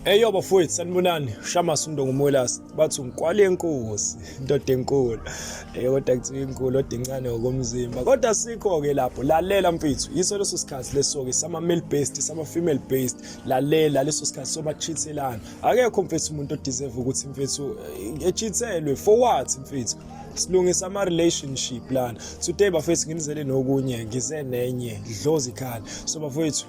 Eyo bafowethu sanibonani Shamas Mndongo Mwelasi bathi ungikwale enkosi indoda enkulu eh kodwa kuthiwa inkulu kodwa incane ngokomzimba kodwa sikho ke lapho lalela mfethu yiso leso sikhathi leso ke sama male based sama female based lalela leso sikhathi soba cheathelana akekho mfethu umuntu odeserve ukuthi mfethu eh, echithelwe for what mfethu silungisa ama relationship lana today bafethu nginizele nokunye ngize nenye dlozi khala so bafethu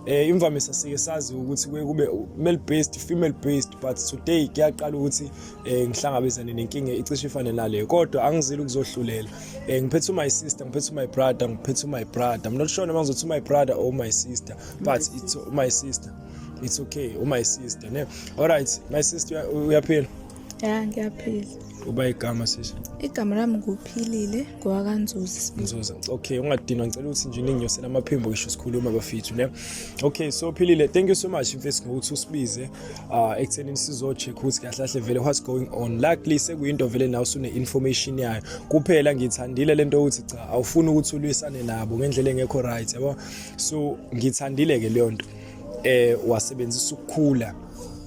eh imvamisa sike sazi ukuthi kuye kube male based female based but today kuyaqala ukuthi eh ngihlangabezane nenkinga icishe ifane naleyo kodwa angizile ukuzohlulela eh ngiphethe my sister ngiphethe my brother ngiphethe my brother i'm not sure noma ngizothi my brother or my sister but it's my sister it's okay or my sister ne all right my sister uyaphila ya ngiyaphila uba igama sisi igama lami nguphilile ngowakanzuzi nzuza okay ungadinwa ngicela ukuthi nje ninginyosela amaphimbo ngisho sikhuluma bafethu ne okay so philile thank you so much mfethu ngokuthi usibize uh ekuthenini sizocheck ukuthi kahle kahle vele what's going on luckily sekuyinto vele nawe usune information yayo kuphela ngithandile lento ukuthi cha awufuni ukuthi ulwisane nabo ngendlela engekho right yabo so ngithandile ke leyo nto eh wasebenzisa ukukhula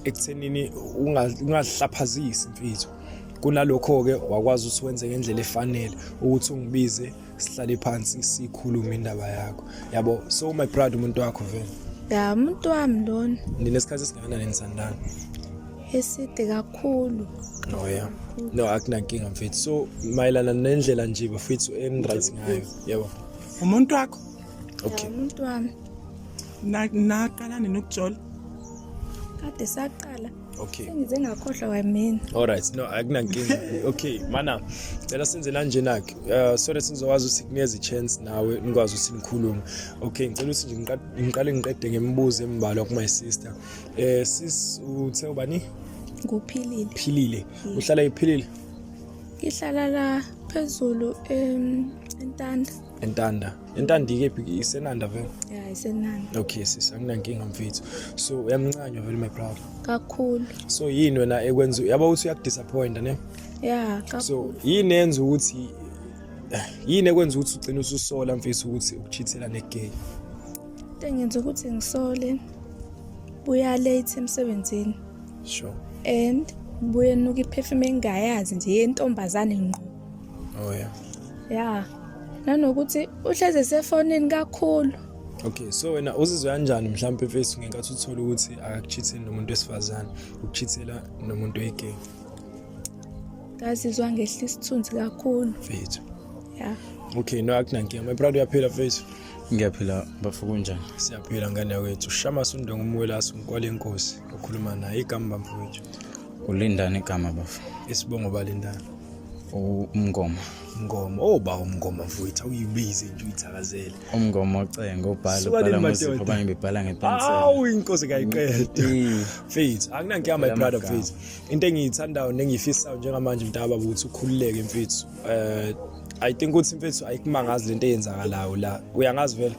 ekuthenini ungazihlaphazisi imfitho kunalokho ke wakwazi ukuthi wenze ngendlela efanele ukuthi ungibize sihlale phansi sikhulume indaba yakho yabo so my proud umuntu wakho vele ya umuntu wami lona ninesikhathi esingakanani nisandana eside kakhulu no ya no akunankinga mfethu so mayelana nendlela nje bafethu enright ngayo yebo umuntu wakho okay umuntu wami naqala nini ukujola kade saqala okay sengize ngakhohlwa kwamina all right no akunankinga okay mana cela senze lanjena-ke uh, so that sizokwazi ukuthi kunikeza i-chance nawe nikwazi ukuthi nikhulume okay ngicela ukuthi nje ngiqale ngiqede ngemibuzo embalwa ku-my sister um sis uthe ubani nguphilile philile mm. uhlala iphilile ngihlala la phezulu um entanda entanda entanda ikephi isenanda vele ya isenanda okay sisi anginankinga mfethu so uyamncanywa vele my brother kakhulu so yini wena ekwenza yaba ukuthi uyakudisappointa ne ya kakhulu so yini enza ukuthi eh, yini ekwenza ukuthi ugcine ususola mfethu ukuthi ukuchithela negay into engenza ukuthi ngisole buya late emsebenzini sure and buye nuka iphefuma engayazi nje yentombazane ngqo oh yeah yeah nanokuthi uhlezi esefonini kakhulu okay so wena uzizwa kanjani mhlawumbe mfethu ngenkathi uthole ukuthi akakuchitheni nomuntu wesifazane ukuchithela nomuntu oyigay ngazizwa ngehla isithunzi kakhulu mfethu yeah okay no akunankinga my brother uyaphila mfethu ngiyaphila bafo kunjani siyaphila ngane yakwethu shama sundonga umwelasi umkwala enkosi okhuluma naye igama bamfowethu Ulindani igama bafo? Isibongo balindani. Umngoma. Mngoma. Oh ba umngoma mfowethu uyibize nje uyithakazele. Umngoma ocengo ubhala ubhala muzipho abanye bebhala ngepensela. Awu inkosi kayiqede. Mfethu akunankinga my brother mfethu. Into engiyithandayo nengiyifisayo njengamanje mntaba ukuthi ukhululeke mfethu. Eh I think ukuthi mfethu ayikumangazi lento eyenzakalayo la. Uyangazi vele?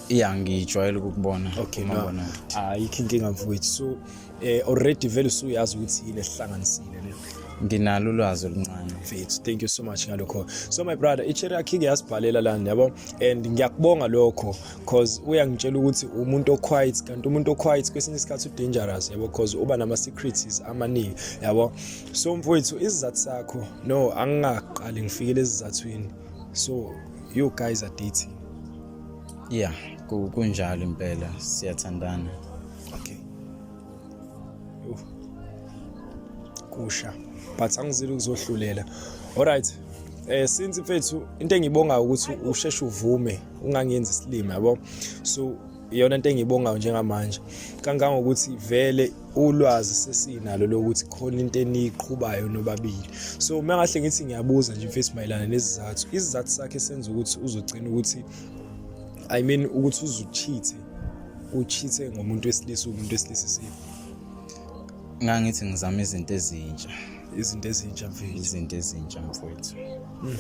Yeah ngijwayele ukukubona. Okay no. Ayikho inkinga mfowethu. So eh already vele usuyazi ukuthi yini esihlanganisile le nginalo ulwazi oluncane mfethu thank you so much ngalokho so my brother i-cherry akhike yasibhalela lana yabo and ngiyakubonga lokho cause uyangitshela ukuthi umuntu oquiet kanti umuntu oquiet kwesinye isikhathi udangerous yabo cause uba nama-secreties amaningi yabo so mfowethu isizathu sakho no angingaqali ngifikele ezizathwini so you guys are dating yeah kunjalo impela siyathandana okay Uf. kusha but angizile ukuzohlulela alright eh since mfethu into engibonga ukuthi usheshe uvume ungangenzi isilima yabo so iyona into engiyibongayo njengamanje kangangokuthi vele ulwazi sesinalo lokuthi khona into eniyiqhubayo nobabili so uma ngahle ngithi ngiyabuza nje mfethu mayelana nezizathu izizathu sakhe senza ukuthi uzogcina ukuthi i mean ukuthi uzuchithe uchithe ngomuntu wesilisa umuntu wesilisa isiphi ngangithi ngizama izinto ezintsha izinto ezintsha mfethu izinto ezintsha mfethu hmm.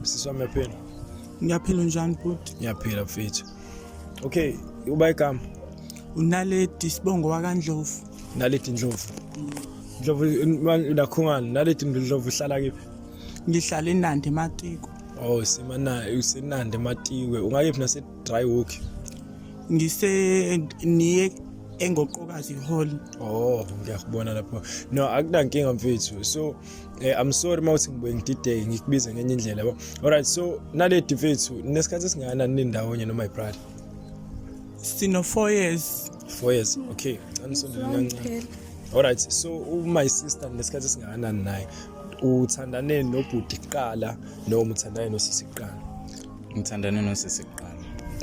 sisi wami yaphela ngiyaphila njani bhuti ngiyaphila mfethu okay uba igama unaledi sibongo wakandlovu naledi ndlovu ndlovu nakhungani naledi ndlovu uhlala kephi ngihlala enandi ematiko oh simana usenandi ematiwe ungayephi nase dry walk ngise niye engoqokazi hall oh ngiyakubona lapho no akunankinga mfethu so eh, i'm sorry mawuthi ngibuye ngidideke ngikubize ngenye indlela yabo alright so naledi mfethu nesikhathi esingana ninindawonye noma ibrother sino 4 years 4 years okay canisondela kancane alright so u my sister nesikhathi esingakanani naye uthandane nobhuti kuqala noma uthandane nosisi kuqala ngithandane nosisi kuqala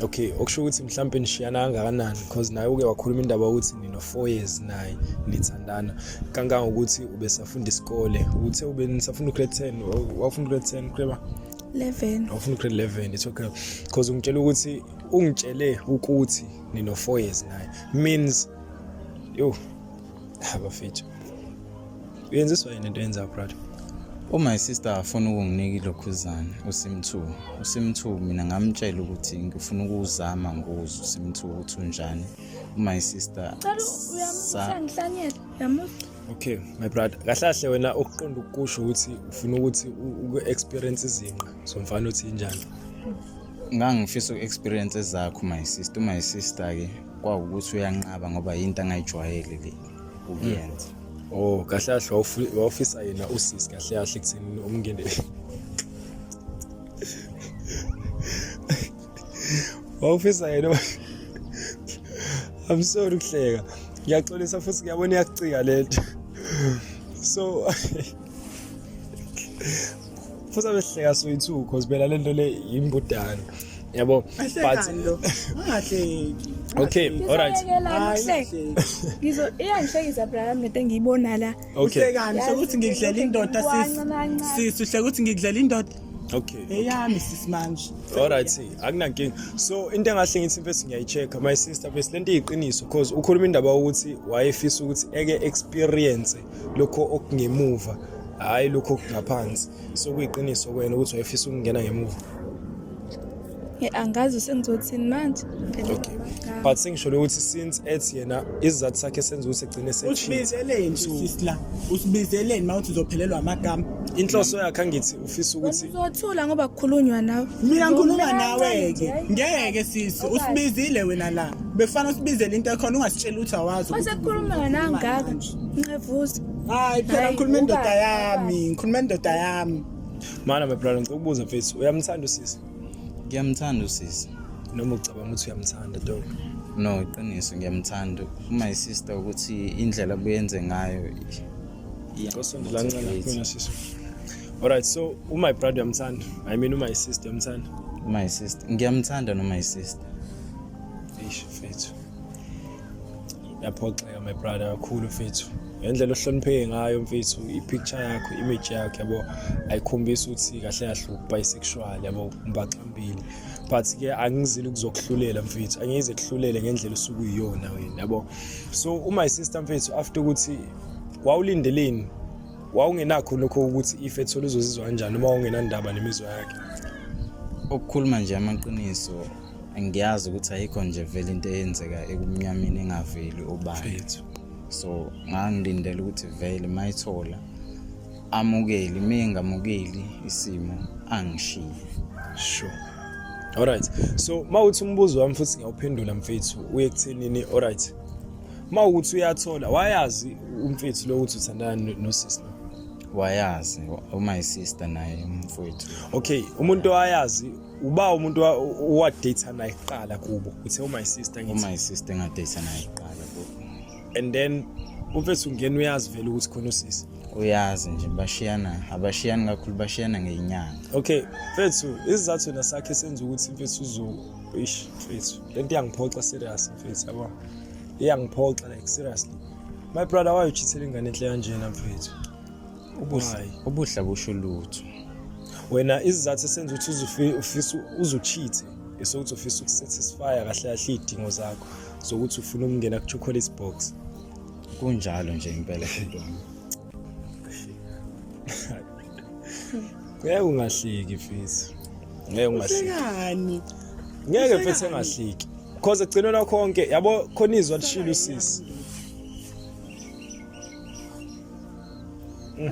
okay okusho ukuthi mhlawumbe nishiyana kangakanani because naye uke wakhuluma indaba ukuthi nino four years naye nithandana kangangokuthi ubesafunda isikole uthe ube nisafunda ugrade ten wafunda ugrade ten kureba 11 awufuna ugrade 11 it's okay because ungitshela ukuthi ungitshele ukuthi nino four years naye means yo Abafethu. Uyenziswa yini into yenza brother? Oh my sister afuna ukunginika ilokhuzana uSimthu. USimthu mina ngamtshela ukuthi ngifuna ukuzama ngokuza uSimthu ukuthi unjani. Oh my sister. Cela uyamusa ngihlanyela. Yamusa. Okay my brother. Kahlahle wena ukuqonda ukusho ukuthi ufuna ukuthi uku experience izinqa somfana uthi injani? Ngangifisa uku experience ezakho my sister, my sister ke. kwawukuthi uyanqaba ngoba yinto angayijwayele le ukuyenza oh kahle kahle wawufu- wawufisa yena usisi kahle kahle ekutheni umngene wawufisa yena i'm sorry ukuhleka ngiyaxolisa futhi ngiyabona iyakucika le nto so futhi abehleka soyithu cause phela lento le yimbudane yabo okay all right ngizo iyangihlekisa brami nete ngiyibona la uhlekani sokuthi ngikudlela indoda sisi sisi uhleka ukuthi ngikudlela indoda okay eyami sisimanje all right see akunankinga so into engahle ngithi mfethu ngiyayichecka my sister bese lento iyiqiniso because ukhuluma indaba ukuthi wayefisa ukuthi eke experience lokho okungemuva hhayi lokho okungaphansi so kuyiqiniso kwena ukuthi wayefisa ukungena ngemuva angazi sengizothini manje okay but sengisholo ukuthi since ethi yena isizathu sakhe senza ukuthi egcine sesibizeleni sisla usibizeleni mawuthi uzophelelwa amagama inhloso yakhe angithi ufisa ukuthi uzothula ngoba kukhulunywa nawe mina ngikhuluma nawe ke ngeke sisi usibizile wena la befana usibizele into ekhona ungasitshela ukuthi awazi ukuthi ukhuluma nangaka Ncevuza. Hayi phela Hayi, ngikhuluma indoda ubani, yami, ngikhuluma indoda yami. Mana my brother ngicela ukubuza mfethu uyamthanda usisi ngiyamthanda usisi noma ucabanga ukuthi uyamthanda dog. no iqiniso ngiyamthanda uma sister ukuthi indlela buyenze ngayo Ngosondela ncane kumina sisi. Alright so u my brother uyamthanda. I mean u my sister uyamthanda. my sister ngiyamthanda no my sister Eish mfethu. yaphoxeka my brother kakhulu mfethu ngendlela ohlonipheke ngayo mfethu i-picture yakho image yakho yabo ayikhombisi ukuthi kahle kahle ubisexual yabo mbaxambili but ke angizile ukuzokuhlulela mfethu angize kuhlulele ngendlela osuke uyiyona wena yabo so uma isister mfethu after ukuthi wawulindeleni wawungenakho lokho ukuthi ife ethola uzozizwa kanjani uma ungenandaba nemizwa yakhe ukukhuluma nje amaqiniso ngiyazi ukuthi ayikho nje vele into eyenzeka ekumnyameni engaveli obani so ngangilindela ukuthi vele mayithola amukeli uma engamukeli isimo angishiye sure alright so uma uthi umbuzo wami futhi ngiyawuphendula mfethu uye kuthenini alright uma ukuthi uyathola wayazi umfethu lo ukuthi uthandana nosisi wayazi uma isister naye umfowethu okay umuntu owayazi uba umuntu owadata naye kuqala kubo uthe u-my sister ngithi u-my sister engadata naye kuqala kubo and then umfethu ungena uyazi vele ukuthi khona usisi uyazi nje bashiyana abashiyani kakhulu bashiyana ngenyanga okay mfethu isizathu na sakhe senza ukuthi mfethu uzo ish mfethu lento iyangiphoxa serious mfethu yabo iyangiphoxa like seriously my brother why you cheating ingane enhle kanjena mfethu Ubuhle ubuhle busho lutho. Wena izizathu esenza ukuthi uzufi ufisa uzucheat esokuthi ufisa ukusatisfy kahle kahle idingo zakho zokuthi ufuna ukungena ku chocolate box. Kunjalo nje impela Fidwana. Ngeke ungahleki fisi. Ngeke ungahleki. Uhlekani? Ngeke fethu engahleki. Cause ekugcinweni kwakho konke yabo khona izwa lishilo usisi.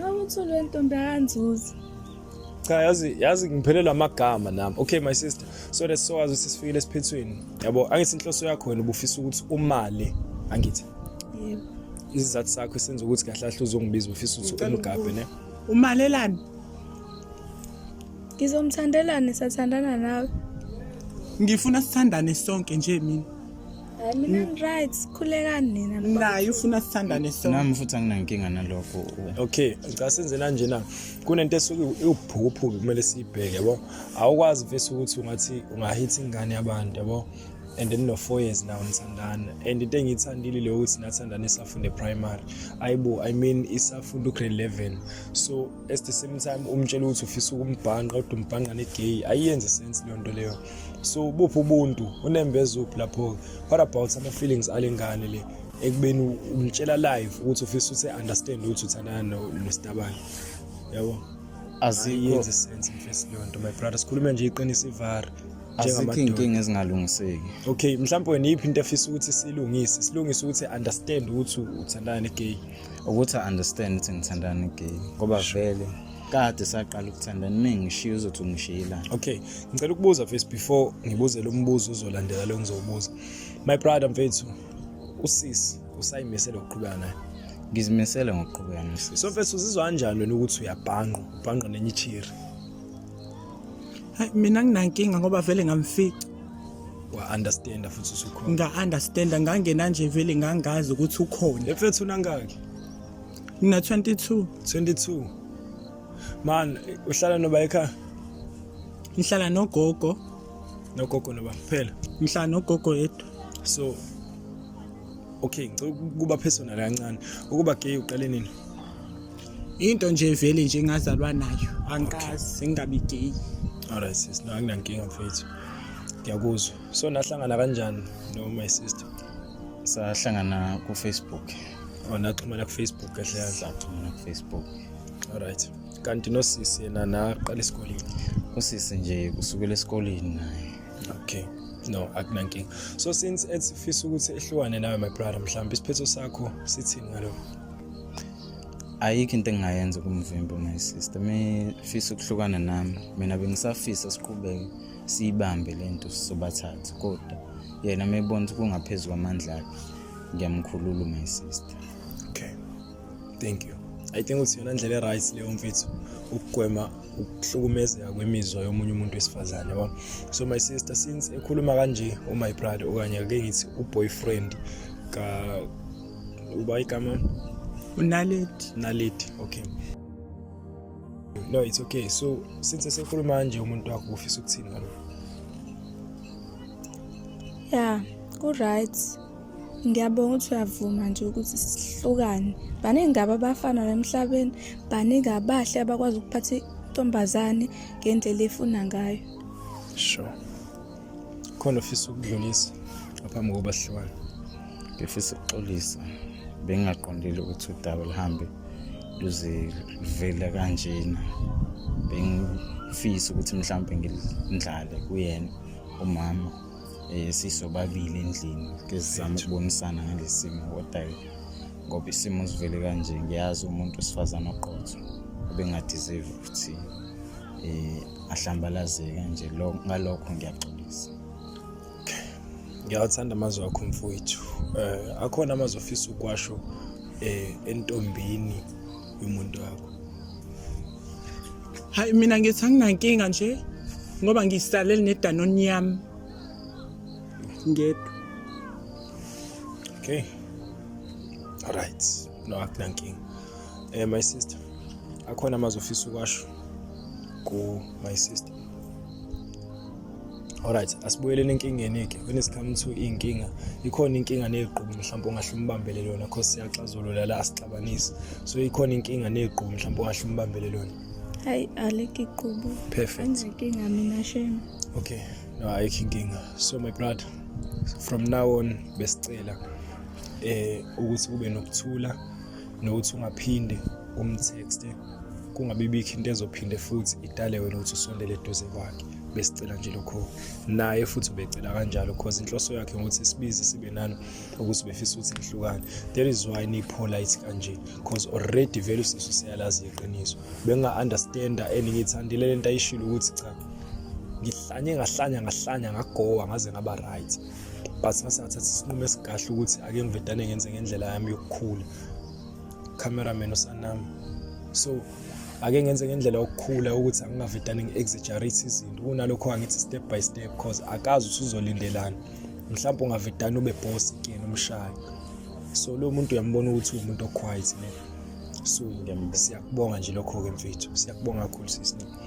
awuthule ntombi akanzuzi cha yazi yazi ngiphelelwa amagama nami okay my sister so that's so as sisifikile esiphethweni yabo angithi inhloso yakho wena ubufisa ukuthi umali angithi yebo izizathu sakho esenza ukuthi kahle kahle uzongibiza ubufisa ukuthi umgabhe ne umalelani ngizomthandelani sathandana nawe ngifuna sithandane sonke nje mina Hayi mina ngiright sikhulekani nina. Naye ufuna sithandane so. Nami futhi anginankinga nalokho. Okay, ngicela senze kanje na. Kunento esuke iwuphuphu kumele siyibheke yabo. Awukwazi vese ukuthi ungathi ungahitha ingane yabantu yabo. and then no-four years now nithandana and into engiyithandile leyo ukuthi nathandana isafunde primary ayibo i mean isafunda ugrade eleven so at the same time umtshela ukuthi ufisa ukumbhanqa kodwa umbhanqa ne-gay ayiyenze sense leyo nto leyo so buphi ubuntu unembeza uphi lapho-ke what about ama-feelings ale ngane le ekubeni umtshela live ukuthi ufisa ukuthi understand ukuthi uthandana nostabane yabo aziyenzi sense mfesi leyo nto my brother sikhulume nje iqinisa ivara azikho iy'nkinga ezingalungiseki okay mhlawumbe wena iyiphi into efisa ukuthi silungise silungise ukuthi understand ukuthi uthandana ne-gay ukuthi understand ukuthi ngithandana ne-gay ngoba vele kade saqala ukuthanda nimi ngishiye uzothi ungishiyela okay ngicela ukubuza first before ngibuze lo mbuzo uzolandela lo ngizowubuza my brother mfethu usisi usayimisele ukuqhubeka naye ngizimisele ngokuqhubeka nosisi so mfethu uzizwa kanjani wena ukuthi uyabhanqa ubhanqa nenye ichiri hayi mina nginankinga ngoba vele ngamfica wa-understanda futhi usukhona nga-understanda ngangena nje vele ngangazi ukuthi ukhona mfethu unangaki Ngina 22. 22. Man, uhlala noba ekhaya? Ngihlala nogogo. Nogogo noba kuphela. Ngihlala nogogo yedwa. So Okay, ngicela ukuba personal kancane. Ukuba gay uqale nini? Into nje vele nje ngazalwa nayo. Angikazi ngingabi gay. Alright sis, no anginankinga mfethu. Ngiyakuzwa. So nahlangana kanjani no my sister? sahlangana kufacebook wanaxhumana oh, kufacebook kahle kahle saxhumana kufacebook alright kanti nosisi yena naqala esikoleni usisi nje kusukela esikoleni naye okay no akunankinga so since ethi fisa ukuthi ehlukane nawe my brother mhlawumbe isiphetho sakho sithini ngalokho ayikho into engingayenza kumvimbo my sister mifisa ukuhlukana nami mina bengisafisa siqhubeke siyibambe le nto sizobathatha kodwa yena uma ebona ukuthi kungaphezu kwamandla akhe ngiyamkhulula my sister okay thank you i think ukuthi yona ndlela e-right leyo mfethu ukugwema ukuhlukumezeka kwemizwa yomunye umuntu wesifazane yabo so my sister since ekhuluma kanje umy brother okanye ake ngithi uboyfriend ka uba igama unaledi naledi okay no it's okay so since esekhuluma nje umuntu wakho ufisa ukuthini ngalo ya ku-right ngiyabonga ukuthi uyavuma nje ukuthi sihlukane baningi ngabo abafana emhlabeni baningi abahle abakwazi ukuphatha intombazane ngendlela efuna ngayo sure khona ofisa ukudlulisa ngaphambi kokuba sihlukane ngifisa ukuxolisa bengingaqondile ukuthi udaba luhambe luzivela kanjena bengifisa ukuthi mhlawumbe ngilindlale kuyena umama eh, sisobabili endlini ngizizama ukubonisana ngalesi simo kodayo ngoba isimo sivele kanje ngiyazi umuntu wesifazane oqotho obengadizive ukuthi eh ahlambalazeka nje lo ngalokho ngiyaxolisa ngiyawuthanda amazwi akho mfowethu eh akhona amazwi ofisa ukwasho eh entombini yomuntu wakho hayi mina ngithi anginankinga nje ngoba ngisalele nedanoni yami ngedwa okay all right no akunankinga eh my sister akhona amazwi ofisa ukwasho ku my sister alright asibuyeleni enkingeni ke when it comes to inkinga ikhona inkinga negqubu mhlawumbe ongahle umbambele lona cause siyaxazulula la asixabanisi so ikhona inkinga negqubu mhlawumbe ongahle umbambele lona hayi aleke igqubu perfect inkinga mina shame okay no ayikho inkinga so my brother from now on besicela eh ukuthi kube nokuthula nokuthi ungaphinde umtexte kungabibikho into ezophinde futhi idale wena ukuthi usondele eduze kwakhe besicela nje lokho naye futhi ubecela kanjalo because inhloso yakhe ukuthi sibize sibe nani ukuthi befisa ukuthi nihlukane that is why nipolite kanje because already vele usisu siyalazi iqiniso benga understanda and ngithandile lento ayishilo ukuthi cha ngihlanye ngahlanya ngahlanya ngagowa ngaze ngaba right but ngase ngathatha isinqumo esigahle ukuthi ake ngivedane ngenze ngendlela yami yokukhula cameraman usanami so ake ngenze ngendlela yokukhula ukuthi angingavedane ngi-exaggerate izinto kunalokho angithi step by step because akazi usuzolindelana mhlawumbe ungavedane ube boss kuyena umshayi so lo muntu uyambona ukuthi uwumuntu oquiet ne so ngiyambona siyakubonga nje lokho-ke mfethu siyakubonga kakhulu sisi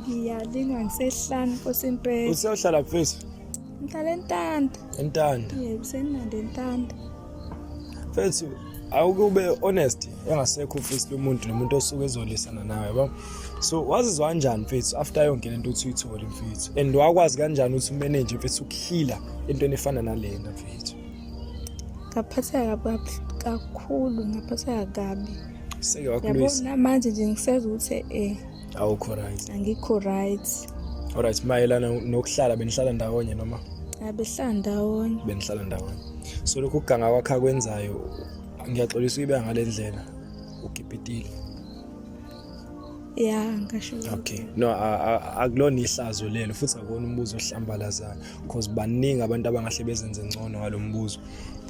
Ngiyalingwa ngisehlanu Nkosi impela. Useyohlala mfethu? Ngihlala entanda. Entanda. Yebo, senande entanda. Mfethu, awuke ube honest engasekho ufisi lomuntu nomuntu osuke ezolisana nawe yabo. So wazizwa kanjani mfethu after yonke lento uthi uyithole mfethu? And wakwazi kanjani ukuthi umanage mfethu ukuhila entweni efana nalena mfethu? Ngaphatheka kakhulu, ngaphatheka kabi. Seke wakulwisa. Yabona manje nje ngiseza ukuthi eh awukho right angikho right alright mayelana nokuhlala benihlala ndawonye noma abehlala ndawonye benihlala ndawonye so lokhu kuganga kwakhe akwenzayo ngiyaxolisa uyibeka ngale ndlela ugibhitile ya ngasho okay no akulona ihlazo lelo futhi akona umbuzo ohlambalazayo because baningi abantu abangahle bezenze ngcono ngalombuzo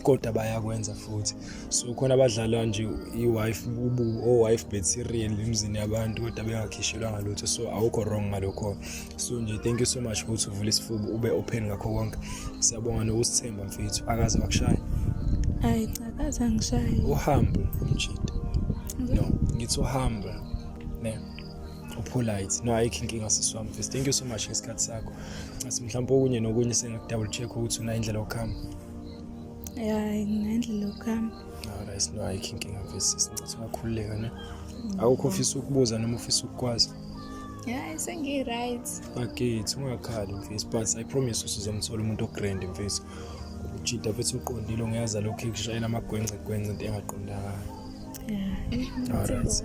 kodwa bayakwenza futhi so khona abadlala nje i-wife ubu o-wife bet serial emzini yabantu kodwa bengakhishelwa ngalutho so awukho wrong ngalokho so nje thank you so much ukuthi uvule isifuba ube open ngakho konke siyabonga nokusithemba mfethu akaze wakushaya hayi cha akaze angishaye uhambo umjita no ngithi uhambo ne upolite no ayikho inkinga sisi wami mfethu thank you so much ngesikhathi sakho asimhlawumpe okunye nokunye sengaku-double check ukuthi unayindlela yokuhamba ya ngendlela yokuhamba ayisino ayikho inkinga mfisi sincathi ungakhululeka ne awukho ofisa ukubuza noma ofisa ukukwazi hayi sengi-right bakithi ungakhali mfisi but i promise usuzomthola umuntu ogrand mfisi ujida futhi uqondile ongeyaza lokhu ekushayela amagwencegwence into engaqondakala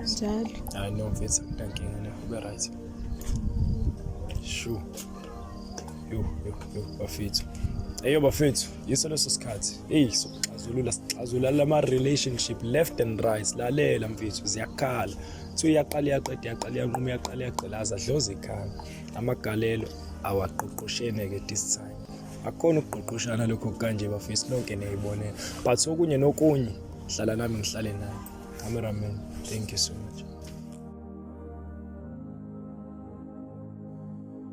njalo hayi no mfethu akutankinga ne ube right shu yo yo yo bafethu eyo bafethu yiso leso sikhathi eyi sokuxazulula sixazula lama-relationship left and right lalela mfethu ziyakhala kuthiwa iyaqala iyaqeda iyaqala iyanquma iyaqala iyagqilaza dloza ikhaya amagalelo awaqoqoshene ke this time akukhona ukugqogqoshana lokho kanje bafisi lonke niyayibonela but okunye nokunye hlala nami ngihlale naye cameraman thank you so much